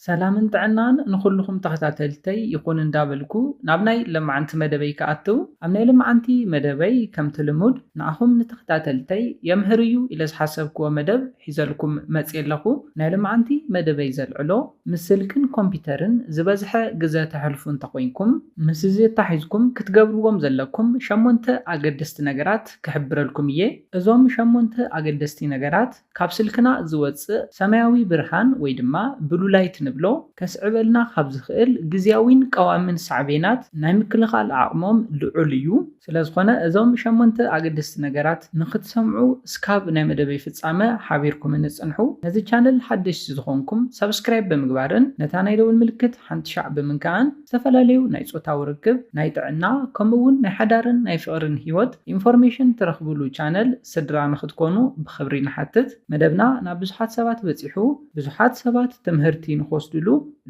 ሰላምን ጥዕናን ንኹሉኹም ተኸታተልተይ ይኹን እንዳበልኩ ናብ ናይ ለማዓንቲ መደበይ ክኣትው ኣብ ናይ ለማዓንቲ መደበይ ከምቲ ልሙድ ንኣኹም ንተኸታተልተይ የምህር እዩ ኢለ ዝሓሰብክዎ መደብ ሒዘልኩም መጽየ ኣለኹ ናይ ለማዓንቲ መደበይ ዘልዕሎ ምስ ስልክን ኮምፒተርን ዝበዝሐ ግዘ ተሕልፉ እንተኾይንኩም ምስዚ ኣታሒዝኩም ክትገብርዎም ዘለኩም ሸሞንተ ኣገደስቲ ነገራት ክሕብረልኩም እየ እዞም ሸሞንተ ኣገደስቲ ነገራት። ካብ ስልክና ዝወጽእ ሰማያዊ ብርሃን ወይ ድማ ብሉ ላይት ንብሎ ከስዕበልና ካብ ዝኽእል ግዝያዊን ቀዋሚን ሳዕቤናት ናይ ምክልኻል ዓቕሞም ልዑል እዩ። ስለዝኾነ እዞም ሸሞንተ ኣገደስቲ ነገራት ንኽትሰምዑ እስካብ ናይ መደበይ ፍጻመ ሓቢርኩምኒ ጽንሑ። ነዚ ቻነል ሓደሽቲ ዝኾንኩም ሳብስክራይብ ብምግባርን ነታ ናይ ደወል ምልክት ሓንቲ ሻዕ ብምንካእን ዝተፈላለዩ ናይ ጾታዊ ርክብ፣ ናይ ጥዕና ከምኡ እውን ናይ ሓዳርን ናይ ፍቕርን ህይወት ኢንፎርሜሽን ትረኽብሉ ቻነል ስድራ ንኽትኮኑ ብኽብሪ ንሓትት። መደብና ናብ ብዙሓት ሰባት በጺሑ ብዙሓት ሰባት ትምህርቲ ንኽወስድሉ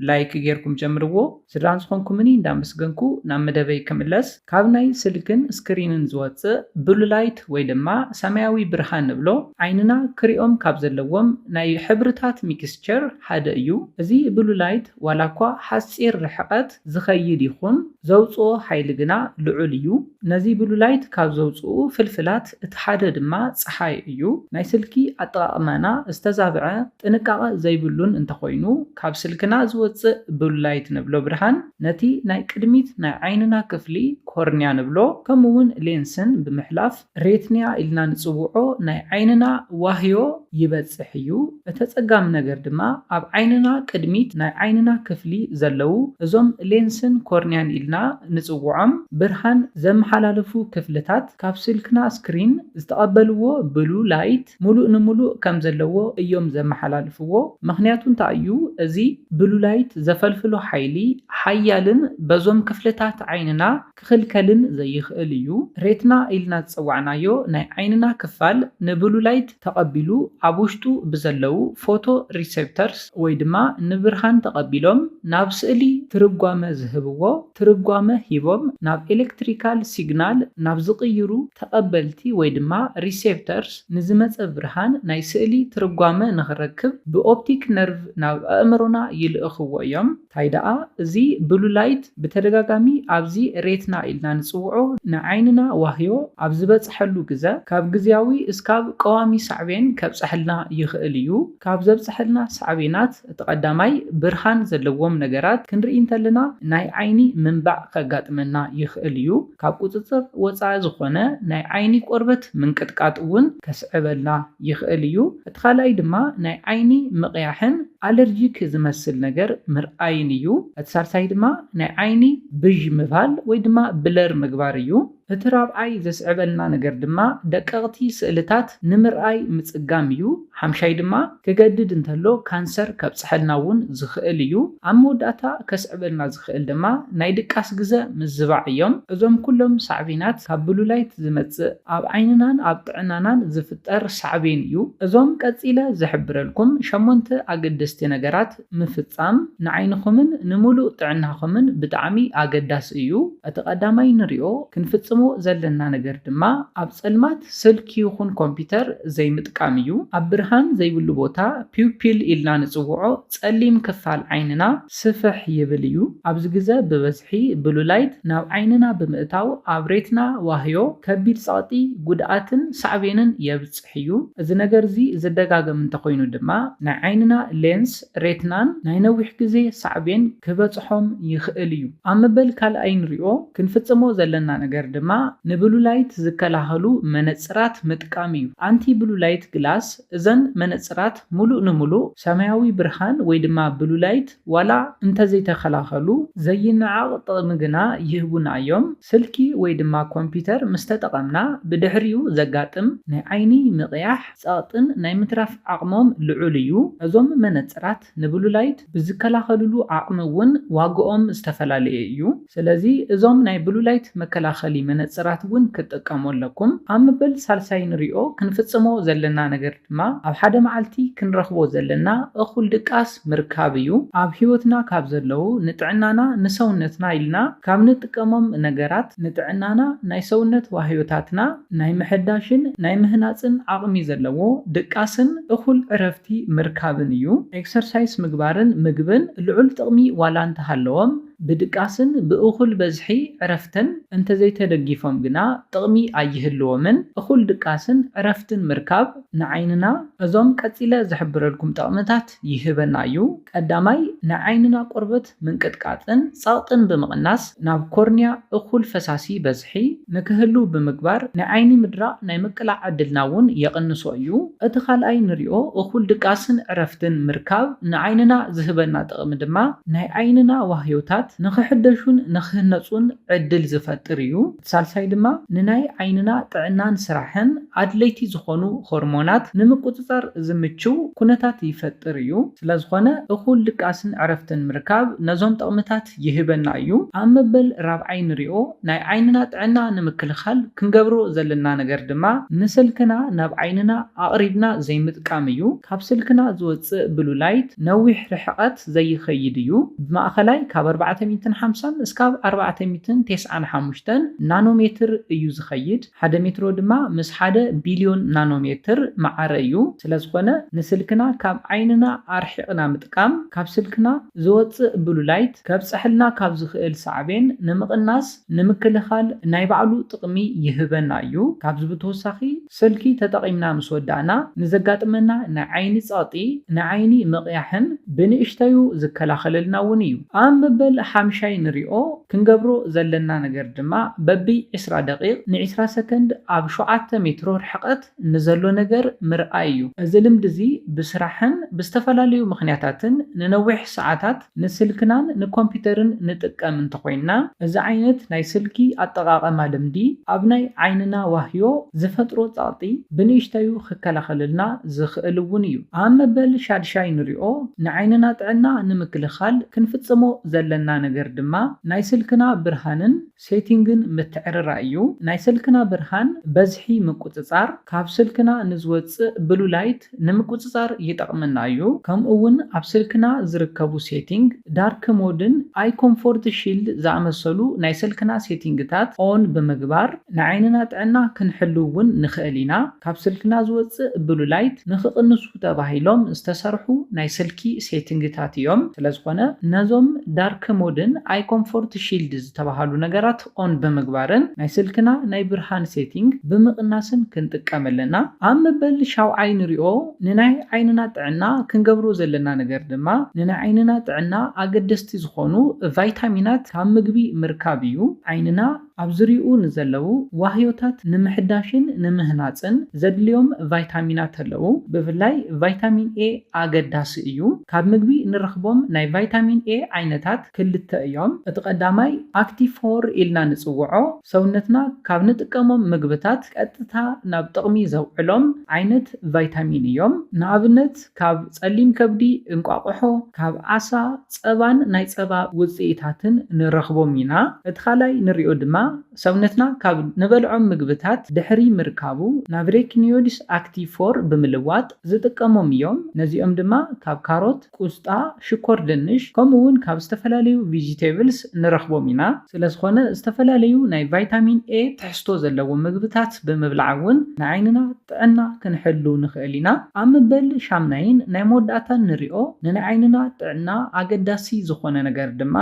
ላይክ ጌርኩም ጀምርዎ። ስድራ ዝኾንኩምኒ እንዳመስገንኩ ናብ መደበይ ክምለስ። ካብ ናይ ስልክን ስክሪንን ዝወጽእ ብሉ ላይት ወይ ድማ ሰማያዊ ብርሃን ንብሎ ዓይንና ክሪኦም ካብ ዘለዎም ናይ ሕብርታት ሚክስቸር ሓደ እዩ። እዚ ብሉ ላይት ዋላኳ ሓጺር ርሕቐት ዝኸይድ ይኹን፣ ዘውጽኦ ሓይሊ ግና ልዑል እዩ። ነዚ ብሉላይት ካብ ዘውጽኡ ፍልፍላት እቲ ሓደ ድማ ጸሓይ እዩ። ናይ ስልኪ ኣጠቓቕማና ዝተዛብዐ፣ ጥንቃቐ ዘይብሉን እንተኾይኑ፣ ካብ ስልክና ዝወጽእ ብሉላይት ንብሎ ብርሃን ነቲ ናይ ቅድሚት ናይ ዓይንና ክፍሊ፣ ኮርንያ ንብሎ፣ ከምኡ'ውን ሌንስን ብምሕላፍ፣ ሬትኒያ ኢልና ንጽውዖ ናይ ዓይንና ዋህዮ ይበጽሕ እዩ። እተጸጋሚ ነገር ድማ ኣብ ዓይንና ቅድሚት ናይ ዓይንና ክፍሊ ዘለዉ እዞም ሌንስን ኮርኒያን ኢልና ንጽውዖም ብርሃን ዘመሓላልፉ ክፍልታት ካብ ስልክና ስክሪን ዝተቐበልዎ ብሉ ላይት ሙሉእ ንሙሉእ ከም ዘለዎ እዮም ዘመሓላልፍዎ ምኽንያቱ እንታይ እዩ እዚ ብሉ ላይት ዘፈልፍሎ ሓይሊ ሓያልን በዞም ክፍልታት ዓይንና ክኽልከልን ዘይኽእል እዩ። ሬትና ኢልና ዝጸዋዕናዮ ናይ ዓይንና ክፋል ንብሉ ላይት ተቐቢሉ ኣብ ውሽጡ ብዘለዉ ፎቶ ሪሰፕተርስ ወይ ድማ ንብርሃን ተቐቢሎም ናብ ስእሊ ትርጓመ ዝህብዎ ትርጓመ ሂቦም ናብ ኤለክትሪካል ሲግናል ናብ ዝቕይሩ ተቐበልቲ ወይ ድማ ሪሰፕተርስ ንዝመጸ ብርሃን ናይ ስእሊ ትርጓመ ንኽረክብ ብኦፕቲክ ነርቭ ናብ ኣእምሮና ይልእኽዎ እዮም። ታይ ደኣ እዚ ብሉ ላይት ብተደጋጋሚ ኣብዚ ሬትና ኢልና ንጽውዖ ንዓይንና ዋህዮ ኣብ ዝበጽሐሉ ግዘ ካብ ግዝያዊ እስካብ ቀዋሚ ሳዕቤን ከብጸሐልና ይኽእል እዩ። ካብ ዘብጸሐልና ሳዕቤናት እቲ ቀዳማይ ብርሃን ዘለዎም ነገራት ክንርኢ እንተለና ናይ ዓይኒ ምንባዕ ከጋጥመና ይኽእል እዩ። ካብ ቁጽጽር ወጻኢ ዝኾነ ናይ ዓይኒ ቆርበት ምንቅጥቃጥ እውን ከስዕበልና ይኽእል እዩ። እቲ ካልኣይ ድማ ናይ ዓይኒ ምቕያሕን ኣለርጂክ ዝመስል ነገር ምርኣይን እዩ። እቲ ሳልሳይ ድማ ናይ ዓይኒ ብዥ ምባል ወይ ድማ ብለር ምግባር እዩ። እቲ ራብዓይ ዘስዕበልና ነገር ድማ ደቀቕቲ ስእልታት ንምርኣይ ምጽጋም እዩ። ሓምሻይ ድማ ክገድድ እንተሎ ካንሰር ከብጽሐልና እውን ዝኽእል እዩ። ኣብ መወዳእታ ከስዕበልና ዝኽእል ድማ ናይ ድቃስ ግዘ ምዝባዕ እዮም። እዞም ኩሎም ሳዕቤናት ካብ ብሉላይት ዝመጽእ ኣብ ዓይንናን ኣብ ጥዕናናን ዝፍጠር ሳዕቤን እዩ። እዞም ቀጺለ ዝሕብረልኩም ሸሞንተ ኣገደስቲ ነገራት፣ ምፍጻም ንዓይንኹምን ንምሉእ ጥዕናኹምን ብጣዕሚ ኣገዳሲ እዩ። እቲ ቀዳማይ ንሪኦ ክንፍጽሞ ዘለና ነገር ድማ ኣብ ጸልማት ስልኪ ይኹን ኮምፒተር ዘይምጥቃም እዩ። ኣብ ብርሃን ዘይብሉ ቦታ ፒውፒል ኢልና ንጽውዖ ጸሊም ክፋል ዓይንና ስፍሕ ይብል እዩ። ኣብዚ ግዘ ብበዝሒ ብሉ ላይት ናብ ዓይንና ብምእታው ኣብ ሬትና ዋህዮ ከቢድ ጸቕጢ፣ ጉድኣትን ሳዕቤንን የብጽሕ። ክፍትሕ እዩ። እዚ ነገር እዚ ዝደጋገም እንተኾይኑ ድማ ናይ ዓይንና ሌንስ፣ ሬትናን፣ ናይ ነዊሕ ግዜ ሳዕቤን ክበጽሖም ይኽእል እዩ። ኣብ መበል ካልኣይ ንሪኦ ክንፍጽሞ ዘለና ነገር ድማ ንብሉ ላይት ዝከላኸሉ መነጽራት ምጥቃም እዩ፣ ኣንቲ ብሉ ላይት ግላስ፣ እዘን መነጽራት ምሉእ ንምሉእ ሰማያዊ ብርሃን ወይ ድማ ብሉ ላይት፣ ዋላ እንተዘይተኸላኸሉ ዘይነዓቕ ጥቕሚ ግና ይህቡና እዮም። ስልኪ ወይ ድማ ኮምፒተር ምስ ተጠቐምና ብድሕሪኡ ዘጋጥም ናይ ዓይኒ ምቕያሕ፣ ጸቕጥን ናይ ምትራፍ ዓቕሞም ልዑል እዩ። እዞም መነጽራት ንብሉ ላይት ብዝከላኸልሉ ዓቕሚ እውን ዋግኦም ዝተፈላለየ እዩ። ስለዚ እዞም ናይ ብሉ ላይት መከላኸሊ መነጽራት እውን ክትጥቀሙ ኣለኩም። ኣብ መበል ሳልሳይ ንሪኦ ክንፍጽሞ ዘለና ነገር። ድማ ኣብ ሓደ መዓልቲ ክንረኽቦ ዘለና እኹል ድቃስ ምርካብ እዩ። ኣብ ሕይወትና ካብ ዘለዉ ንጥዕናና ንሰውነትና ኢልና ካብ ንጥቀሞም ነገራት፣ ንጥዕናና ናይ ሰውነት ዋህዮታትና ናይ ምሕዳሽን ናይ ምህናጽን ዓቕሚ ዘለዎ ድቃስን እኹል ዕረፍቲ ምርካብን እዩ። ኤክሰርሳይስ ምግባርን ምግብን ልዑል ጥቕሚ ዋላ እንተሃለዎም፣ ብድቃስን ብእኹል በዝሒ ዕረፍትን እንተዘይተደጊፎም ግና ጥቕሚ ኣይህልዎምን። እኹል ድቃስን ዕረፍትን ምርካብ ንዓይንና እዞም ቀጺለ ዝሕብረልኩም ጠቕምታት ይህበና እዩ። ቀዳማይ፣ ንዓይንና ቆርበት ምንቅጥቃጥን ጸቕጥን ብምቕናስ ናብ ኮርንያ እኹል ፈሳሲ ይበጽሕ። ብዝሒ ንክህልው ብምግባር ናይ ዓይኒ ምድራቕ ናይ ምቅላዕ ዕድልና እውን የቕንሶ እዩ። እቲ ካልኣይ ንሪኦ እኹል ድቃስን ዕረፍትን ምርካብ ንዓይንና ዝህበና ጥቕሚ ድማ ናይ ዓይንና ዋህዮታት ንክሕደሹን ንክህነፁን ዕድል ዝፈጥር እዩ። እቲ ሳልሳይ ድማ ንናይ ዓይንና ጥዕናን ስራሕን ኣድለይቲ ዝኾኑ ሆርሞናት ንምቁፅፃር ዝምችው ኩነታት ይፈጥር እዩ። ስለዝኾነ እኹል ድቃስን ዕረፍትን ምርካብ ነዞም ጥቕምታት። ይህበና እዩ። ኣብ መበል ራብዓይ ንሪኦ ናይ ዓይንና ጥዕና ንምክልኻል ክንገብሮ ዘለና ነገር ድማ ንስልክና ናብ ዓይንና ኣቕሪብና ዘይምጥቃም እዩ። ካብ ስልክና ዝወፅእ ብሉ ላይት ነዊሕ ርሕቐት ዘይኸይድ እዩ። ብማእኸላይ ካብ ኣርባዕተ ሚእትን ሓምሳን እስካብ ኣርባዕተ ሚእትን ቴስዓን ሓሙሽተን ናኖ ሜትር እዩ ዝኸይድ። ሓደ ሜትሮ ድማ ምስ ሓደ ቢልዮን ናኖሜትር መዓረ እዩ። ስለዝኾነ ንስልክና ካብ ዓይንና ኣርሒቕና ምጥቃም ካብ ስልክና ዝወጽእ ብሉ ላይት ከብጸሐልና ካብ ዝኽእል ሳዕቤን ንምቕናስ፣ ንምክልኻል፣ ናይ ባዕሉ ጥቕሚ ይህበና እዩ። ካብዚ ብተወሳኺ ስልኪ ተጠቒምና ምስ ወዳእና ንዘጋጥመና ናይ ዓይኒ ጸቕጢ፣ ናይ ዓይኒ ምቕያሕን ብንእሽተዩ ዝከላኸለልና እውን እዩ። ኣብ መበል ሓምሻይ ንሪኦ ክንገብሮ ዘለና ነገር ድማ በቢ ዕስራ ደቒቕ ንዕስራ ሰከንድ ኣብ ሸውዓተ ሜትሮ ርሕቐት ንዘሎ ነገር ምርኣይ እዩ። እዚ ልምዲ እዚ ብስራሕን ብዝተፈላለዩ ምኽንያታትን ንነዊሕ ሰዓታት ንስልክናን ንኮምፒተርን ንጥቀም እንተኾይንና፣ እዚ ዓይነት ናይ ስልኪ ኣጠቓቐማ ልምዲ ኣብ ናይ ዓይንና ዋህዮ ዝፈጥሮ ጸቕጢ ብንእሽተዩ ክከላኸለልና ዝኽእል እውን እዩ። ኣብ መበል ሻድሻይ ንሪኦ ንዓይንና ጥዕና ንምክልኻል ክንፍጽሞ ዘለና ነገር ድማ ናይ ስልክና ብርሃንን ሴቲንግን ምትዕርራይ እዩ። ናይ ስልክና ብርሃን በዝሒ ምቁጽጻር ካብ ስልክና ንዝወጽእ ብሉ ላይት ንምቁጽጻር ይጠቕመና እዩ። ከምኡ ውን ኣብ ስልክና ዝርከቡ ሴቲንግ፣ ዳርክ ሞድን ኣይ ኮምፎርት ሺልድ ዝኣመሰሉ ናይ ስልክና ሴቲንግታት ኦን ብምግባር ናይ ዓይንና ጥዕና ክንሕሉ ውን ንኽእል ኢና። ካብ ስልክና ዝወጽእ ብሉ ላይት ንኽቕንሱ ተባሂሎም ዝተሰርሑ ናይ ስልኪ ሴቲንግታት እዮም። ስለዝኾነ ነዞም ዳርክ ሞድን ኣይኮምፎርት ሺልድ ዝተባሃሉ ነገራት ኦን ብምግባርን ናይ ስልክና ናይ ብርሃን ሴቲንግ ብምቕናስን ክንጥቀም ኣለና። ኣብ መበል ሻውዓይ ንሪኦ ንናይ ዓይንና ጥዕና ክንገብሮ ዘለና ነገር ድማ ንናይ ዓይንና ጥዕና ኣገደስቲ ዝኾኑ ቫይታሚናት ካብ ምግቢ ምርካብ እዩ። ዓይንና። ኣብ ዙርይኡ ንዘለዉ ዋህዮታት ንምሕዳሽን ንምህናጽን ዘድልዮም ቫይታሚናት ኣለዉ። ብፍላይ ቫይታሚን ኤ ኣገዳሲ እዩ። ካብ ምግቢ ንረኽቦም ናይ ቫይታሚን ኤ ዓይነታት ክልተ እዮም። እቲ ቀዳማይ ኣክቲቭ ፎር ኢልና ንጽውዖ፣ ሰውነትና ካብ ንጥቀሞም ምግብታት ቀጥታ ናብ ጥቕሚ ዘውዕሎም ዓይነት ቫይታሚን እዮም። ንኣብነት ካብ ጸሊም ከብዲ፣ እንቋቑሖ፣ ካብ ዓሳ፣ ጸባን ናይ ጸባ ውጽኢታትን ንረኽቦም ኢና። እቲ ካልኣይ ንሪኦ ድማ ሰውነትና ካብ ንበልዖም ምግብታት ድሕሪ ምርካቡ ናብ ሬክኒዮድስ ኣክቲቭ ፎር ብምልዋጥ ዝጥቀሞም እዮም። ነዚኦም ድማ ካብ ካሮት፣ ቁስጣ፣ ሽኮር ድንሽ ከምኡ'ውን ካብ ዝተፈላለዩ ቪጂቴብልስ ንረኽቦም ኢና። ስለዝኾነ ዝተፈላለዩ ናይ ቫይታሚን ኤ ትሕዝቶ ዘለዎም ምግብታት ብምብላዕ እውን ንዓይንና። ጥዕና ክንሕሉ ንኽእል ኢና። ኣብ መበል ሻምናይን ናይ መወዳእታን ንሪኦ ንንዓይንና ጥዕና ኣገዳሲ ዝኾነ ነገር ድማ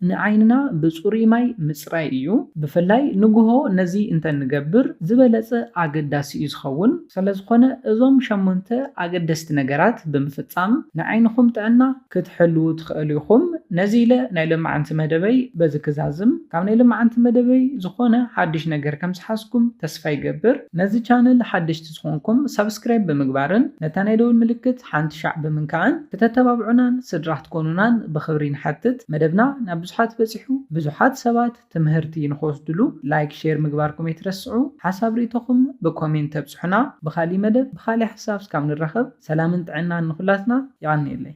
ንዓይንና ብፅሩይ ማይ ምፅራይ እዩ። ብፍላይ ንጉሆ ነዚ እንተንገብር ዝበለፀ ኣገዳሲ እዩ ዝኸውን። ሰለዝኾነ እዞም ሸሞንተ ኣገደስቲ ነገራት ብምፍፃም ንዓይንኹም ጥዕና ክትሕልዉ ትኸእሉ ኢኹም። ነዚ ኢለ ናይ ለማዓንቲ መደበይ በዚ ክዛዝም። ካብ ናይ ለማዓንቲ መደበይ ዝኾነ ሓድሽ ነገር ከም ዝሓዝኩም ተስፋ ይገብር። ነዚ ቻነል ሓደሽቲ ዝኾንኩም ሳብስክራይብ ብምግባርን ነታ ናይ ደውል ምልክት ሓንቲ ሻዕ ብምንካዕን ክተተባብዑናን ስድራ ክትኮኑናን ብኽብሪ ንሓትት። መደብና ናብ ብዙሓት በጺሑ ብዙሓት ሰባት። ትምህርቲ ንክወስድሉ ላይክ ሼር ምግባርኩም ኣይትረስዑ ሓሳብ ሪኢቶኹም ብኮሜንት ተብጽሑና ብኻሊእ መደብ ብኻሊእ ሓሳብ እስካብ ንራኸብ ሰላምን ጥዕናን ንኹላትና የቀንየለይ።